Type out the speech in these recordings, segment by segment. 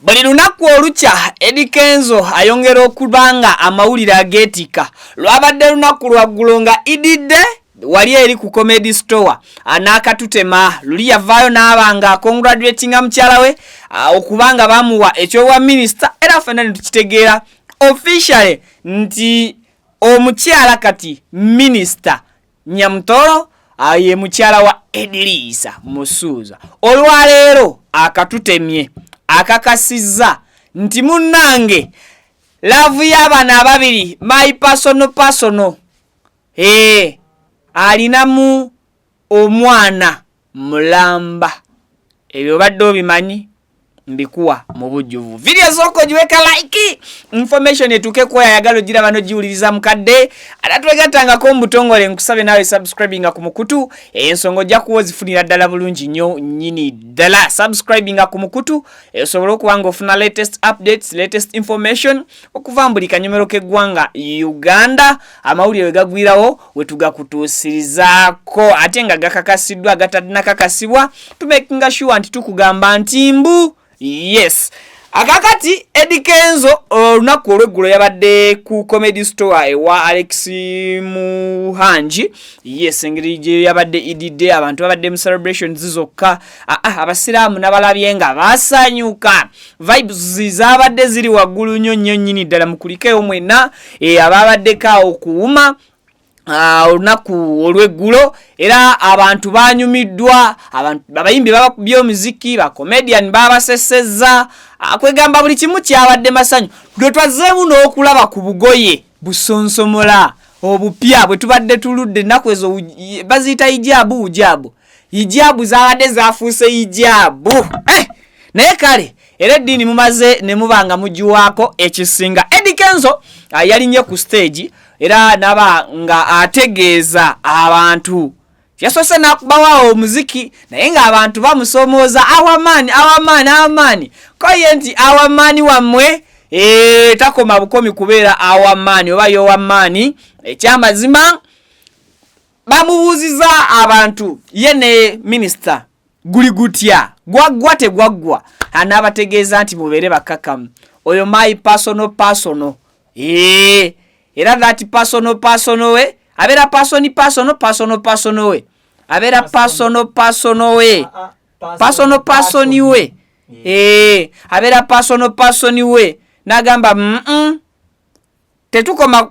buli lunaku olukya edi kenzo ayongera okuba nga amawulire ageetikka lwabadde lunaku lwaggulo nga ididde wali eri ku comedy store anaakatutema luli yavaayo naaba nga congratulatinga mukyala we okuba nga bamuwa ekyobwa minisita era fena netukitegeera officially nti Omukyala kati minisita Nyamutoro ah, ye mukyala wa Ediriisa Musuuza olwaleero akatutemye akakasizza nti munnange laavu y'abaana ababiri my personal personal ee eh, alinamu omwana mulamba ebyo obadde obimanyi mbikuwa mu bujjuvu vidiyo esooka ogiweka like information etuuke kuwa yayagala ogira bano giwuliriza mukadde ate twegattangako mu butongole nkusabe naawe subscribinga ku mukutu ensonga ojja kuwa ozifunira ddala bulungi nnyo nyini ddala subscribinga ku mukutu esobole okuba nga ofuna latest updates latest information okuva mu buli kanyomero k'eggwanga uganda amawulire we gagwirawo wetugakutuusirizaako ate nga gakakasiddwa agatanakakasibwa tumakinga sure nti tukugamba nti mbu yes akakati edi kenzo olunaku olweggulo yabadde ku comedy store ewa alex muhangi yes engeri gye yabadde edidde abantu babadde mu celebrations zokka ah, ah, abasiraamu nabalabye nga basanyuka vibes zabadde ziri waggulu nnyo nnyo nnyini ddala mukulikeyo mwenna eh, ababaddeko awo kuwuma ah, olunaku olweggulo era abantu banyumiddwa abayimbi babakubye omuziki bacomedian babasesezza ah, kwegamba buli kimu kyabadde masanyu lwe twazzeemu n'okulaba ku bugoye busonsomola obupya bwe tubadde tuludde ennaku ezo baziyita ijaabu ujaabu hijaabu zabadde zafuuse hijaabu eh! naye kale era eddiini mumaze ne muba nga mugiwaako ekisinga edi kenzo ah, yalinye ku stage era naba nga ategeeza abantu yasoose nakubawawo omuziki naye ng'abantu bamusomooza awamaani awamaani awamaani koye nti awamaani wammwe eh, takoma bukomi kubeera awamaani oba yowamaani ekyamazima eh, bamubuuziza abantu ye ne minisita guli gutya gwaggwa tegwaggwa anaabategeeza nti mubeere bakkakkamu oyo my personal personal ee era that personal personal we abeera person personal personal personal we abeera personal personal we personal person we ee abeera personal person we n'agamba mm tetukoma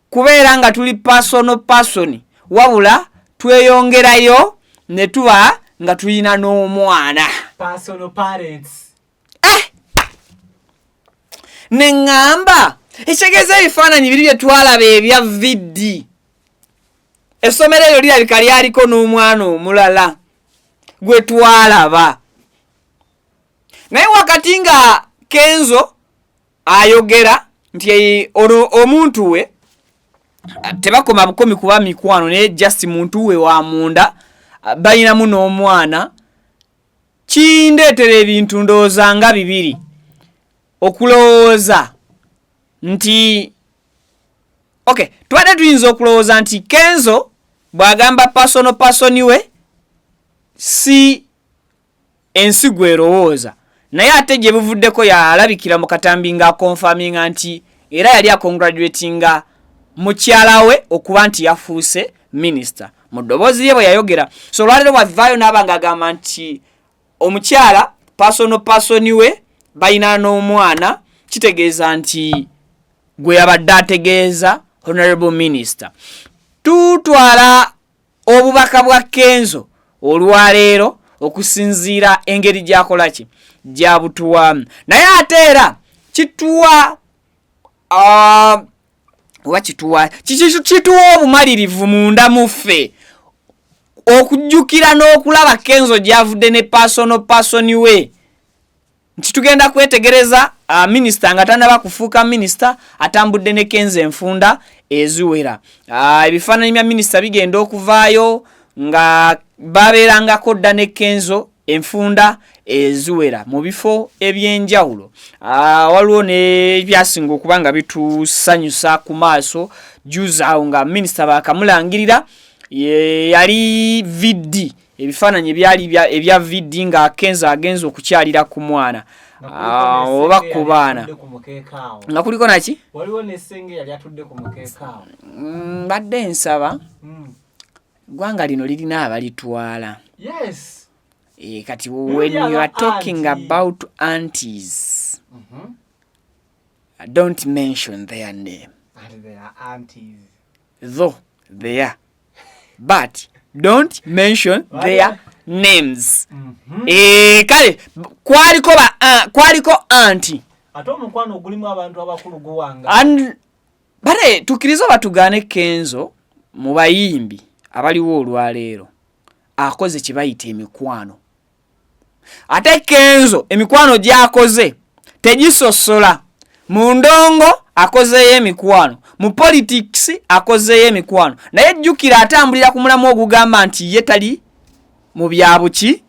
kubeera nga tuli personal person wabula tweyongerayo ne tuba nga tulina n'omwana eh! ne ŋŋamba ekitegeeza ebifaananyi biri bye twalaba ebya vidi essomero eryo lirabika lyaliko n'omwana omulala gwe twalaba naye wakati nga kenzo ayogera nti ono omuntu we tebakoma bukomi kuba mikwano naye just muntu we wa munda balinamu n'omwana kindeetera ebintu ndowooza nga bibiri okulowooza nti ok tubadde tuyinza okulowooza nti kenzo bw'agamba pasono pasoni we si ensi gw'erowooza naye ate gye buvuddeko yalabikira mu katambi ng'akonfaminga nti era yali akongraduatinga mukyala we okuba nti yafuuse minisita mu ddoboozi lye bwe yayogera so olwaleero bwavaayo n'aba ng'agamba nti omukyala pasono pasoni we balina n'omwana kitegeeza nti gwe yabadde ategeeza honorable minister tutwala obubaka bwa kenzo olwaleero okusinziira engeri gyakola ki gyabutuwamu naye ate era kituwa ah, oba kituwa kituwa obumalirivu munda muffe okujjukira n'okulaba kenzo gyavudde ne pasono pasoni we nti tugenda kwetegereza uh, minisita nga tanaba kufuuka minisita atambudde ne kenza enfunda eziwera uh, ebifaananyi bya minisita bigenda okuvaayo nga babeerangako dda ne kenzo enfunda eziwera mu bifo ebyenjawulo ah, waliwo nebyasinga okuba nga bitusanyusa ku maaso juzi awo nga minisita bakamulangirira yali vidi ebifaananyi ebyali ebya vd nga akenzo agenza okukyalira ku mwana ah, oba ku baana nga kuliko naki mm, mbadde nsaba hmm. gwanga lino lirina abalitwala eh, kati when you are talking about antis mhm. don't mention their name though they are but don't mention their names mm -hmm. e, kale kwaliko ba uh, kwaliko anti ate omukwano ogulimu abantu abakulu guwanga and bare tukiriza batugane kenzo mu bayimbi abaliwo olwaleero akoze kibayita emikwano ate kenzo emikwano gyakoze tegisosola mu ndongo akozeeyo emikwano mu politics akozeeyo emikwano naye jjukira atambulira ku mulamu ogugamba nti ye tali mu byabuki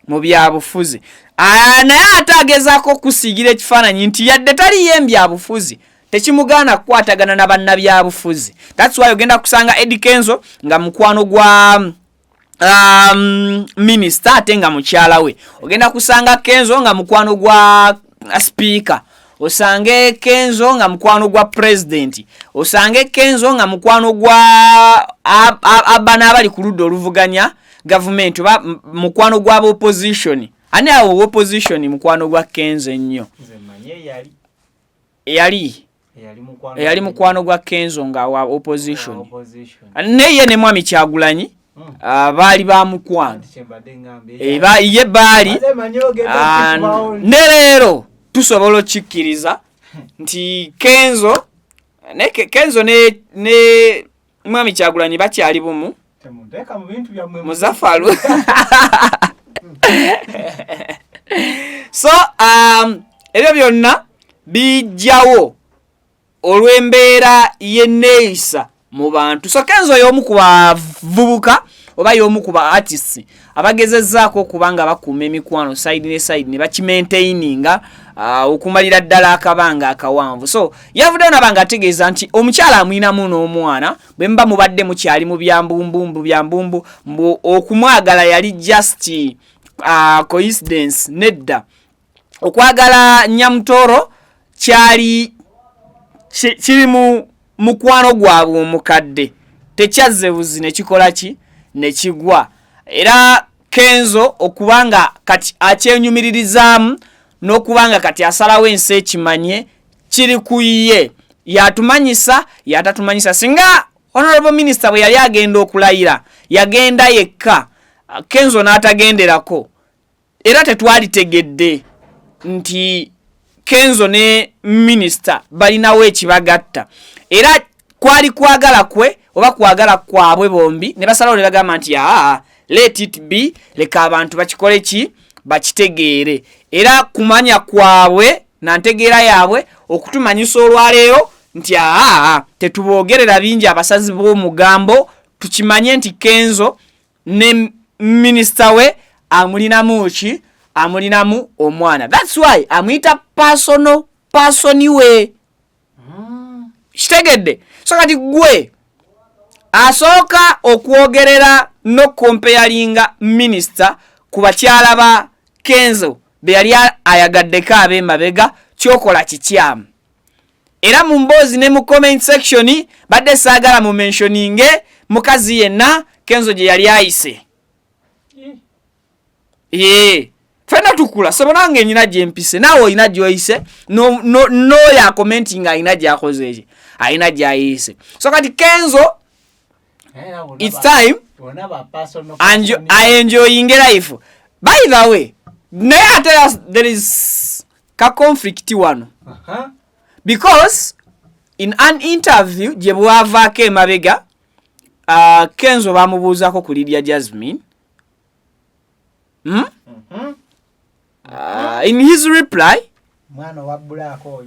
mu byabufuzi ah, naye ate agezaako okusiigira ekifaananyi nti yadde taliyo embyabufuzi tekimugaana kukwatagana na bannabyabufuzi that's why ogenda kusanga edikenzo nga mukwano gwa um, minisita ate nga mukyala we ogenda kusanga kenzo nga mukwano gwa sipiika osange kenzo nga mukwano gwa pulezidenti osange kenzo nga mukwano gwa abana abali ku ludda oluvuganya gavumenti oba mukwano gwa bopozitioni ani awo wopozitioni mukwano gwa kenzo ennyo eyali eyali mukwano gwa kenzo nga wa opposition neye ne mwami kyagulanyi hmm. ah, baali ba mukwano eh, ye baali ah, ne leero tusobola okikkiriza nti kenzo ne kenzo ne mwami kyagulanyi bakyali bumu muzafalu so um, ebyo byonna bijjawo olw'embeera y'enneeyisa mu bantu so kenzo y'omu ku bavubuka oba y'omu ku ba artists abagezezzaako okuba nga bakuuma emikwano side ne side ne bakimaintaininga uh, okumalira ddala akabanga akawanvu so yavuddeyo naba nga ategeeza nti omukyala amwinamu n'omwana bwe muba mubadde mukyali mu byambumbumbu byambumbu mbu okumwagala yali just uh, coincidence nedda okwagala nyamutoro kyali kiri mu mukwano gwabwe omukadde tekyazze buzi ne kikola ki ne kigwa era kenzo okuba nga kati akyenyumiririzaamu n'okuba nga kati asalawo ensi ekimanye kiri ku ye yatumanyisa yatatumanyisa singa honorable minister bwe yali agenda okulayira yagenda yekka kenzo n'atagenderako era tetwalitegedde nti kenzo ne minisita balinawo ekibagatta era kwali kwagala kwe oba kwagala kwabwe bombi ne basalawo ne bagamba nti aa let it be leka abantu bakikole ki bakitegeere era kumanya kwabwe na ntegeera yaabwe okutumanyisa olwaleero nti aa tetuboogerera bingi abasazi b'omugambo tukimanye nti kenzo ne minister we amulinamu ki amulinamu omwana thats why amuyita personal person we hmm. kitegedde so kati gwe asooka okwogerera nokompeyalinga minister ku bakyala ba kenzo beyali ayagaddeko abemabega kyokola kikyamu era mu mboozi ne mu comment section badde saagala mu menshoninge mukazi yenna kenzo gye yali ayise yee fena tukula sebo nange nyina gyempise naawe olina gyoyise nooyo akomenti nga alina gyakoze eki alina gyayise so kati kenzo its time aenjoyinge life by the way naye ate there is ka conflict wano uh -huh. because in an interview gye bwavaako emabega uh, kenzo bamubuuzako ku lidia jasmine hmm? mm -hmm. uh, in his reply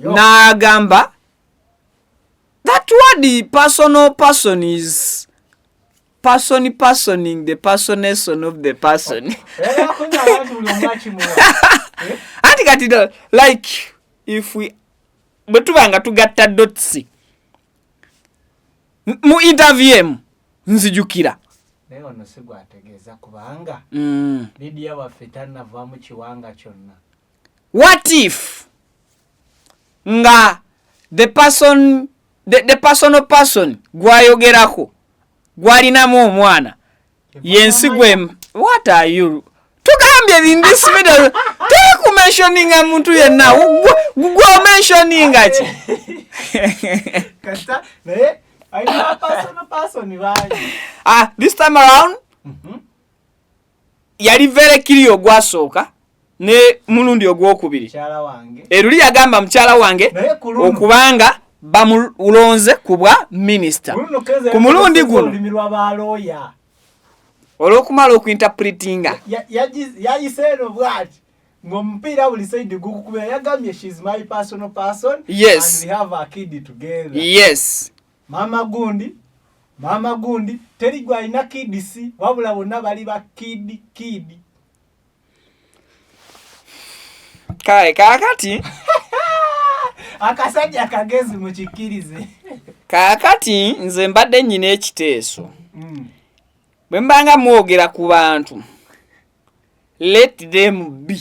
n'agamba that word personal person is person personing the personation of the person anti kati like if we bwe tuba nga tugatta dotsi mu interview emu nzijukira naye ono si gwategeeza kubanga mm. lidiya waffe tanavamu kiwanga kyonna what if nga the person the, the personal person gwayogerako gwalinamu omwana yensi gwe what are you tugambye bindisibidal tekumensioninga muntu yenna gwomensioninga ki ah, this time around mm -hmm. yali verekiri ogwasooka ne mulundi ogwokubiri eruli yagamba mukyala wange okubanga bamulonze ku bwa minisita ku mulundi guno olwokumala okuinterpretinga yayise eno bwati ngomupiira buli saidi gukukubira yagambye shes my personal person yes. and we have a kid together yes Maama gundi maama gundi teri gwalina kidi si wabula bonna bali ba kidi kidi kale kakati akasajja kagezi mukikkirize kakati nze mbadde nyina ekiteeso mm. bwe mbanga mwogera ku bantu let them be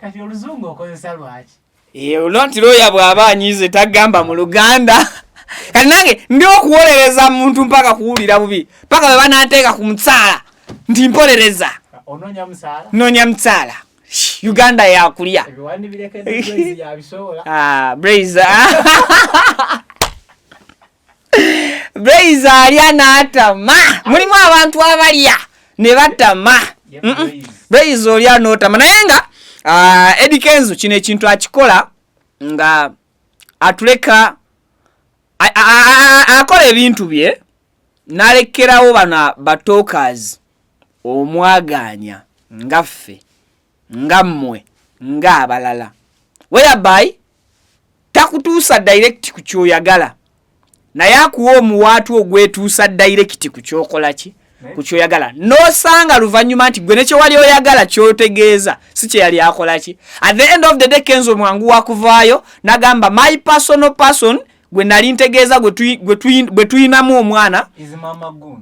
kati oluzungu okozesa lwaki olwa nti looya bw'aba anyize tagamba mu luganda kati nange ndi okuwolereza muntu mpaka kuwulira bubi mpaka bwe bananteeka ku musaala nti mpolereza nonya musaala uganda yakulya ah, ah. Blaze alya n'atama. Mulimu abantu abalya ne batama. Blaze olya n'otama naye nga ah, Eddie Kenzo kino ekintu akikola nga atuleka akola ebintu bye nalekerawo bano batokers omwaganya nga ffe nga mmwe nga abalala whereby takutuusa direct ku kyoyagala naye akuwa omuwaatu ogwetuusa direct ku kyokola ki ku kyoyagala nosanga luvannyuma nti gwe nekyewali oyagala kyotegeeza si kyeyali akola ki at the end of the day kenzo mwangu wakuvaayo nagamba my personal person gwe nali ntegeeza gwe tuyinamu omwana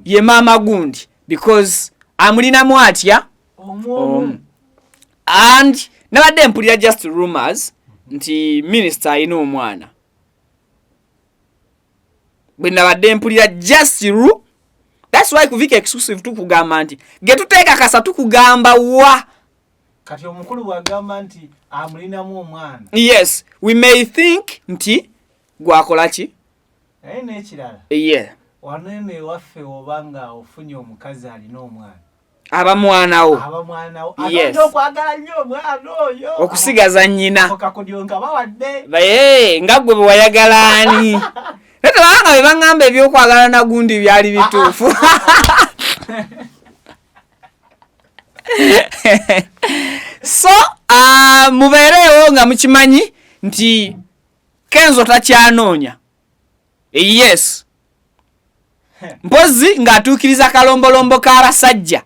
ye maama gundi because amulinamu atya omu and nabadde mpulira just rumors nti minisita alina omwana bwe nabadde mpulira just ru thats why kuvika exclusive tukugamba nti getuteekakasa tukugamba wa kati omukulu bwagamba nti amulinamu omwana yes we may think nti gwakola ki naye nekirala ye wano eno ewaffe oba nga ofunye omukazi alina omwana abamwanawo okusigaza nyina naye nga gwe bewayagala ani tetebanga bebaŋamba ebyokwagala nagundi byali bituufu so uh, mubeereewo nga mukimanyi nti kenzo takyanoonya yes mpozi ng'atuukiriza kalombolombo k'abasajja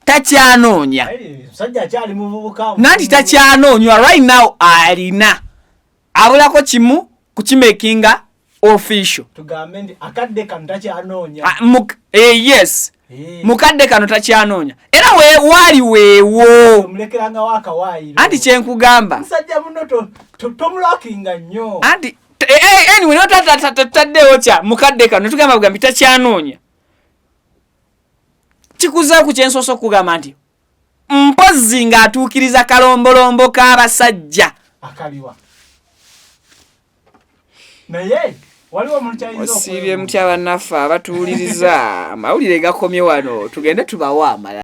takyanoonya nanti takyanoonywa right now alina abulako kimu kukimakinga official ah, eh, yes Eh. mukadde kano takyanoonya era waali weewo anti kyenkugamba anti anywaytataddewo kya mukadde kano netugamba bugambi takyanoonya kikuzaku kyensoosa okugamba nti mpozzi ng'atuukiriza kalombolombo k'abasajja akaliwa naye osiibye mutya bannaffe abatuwuliriza amawulire gakomye wano tugende tubawa amala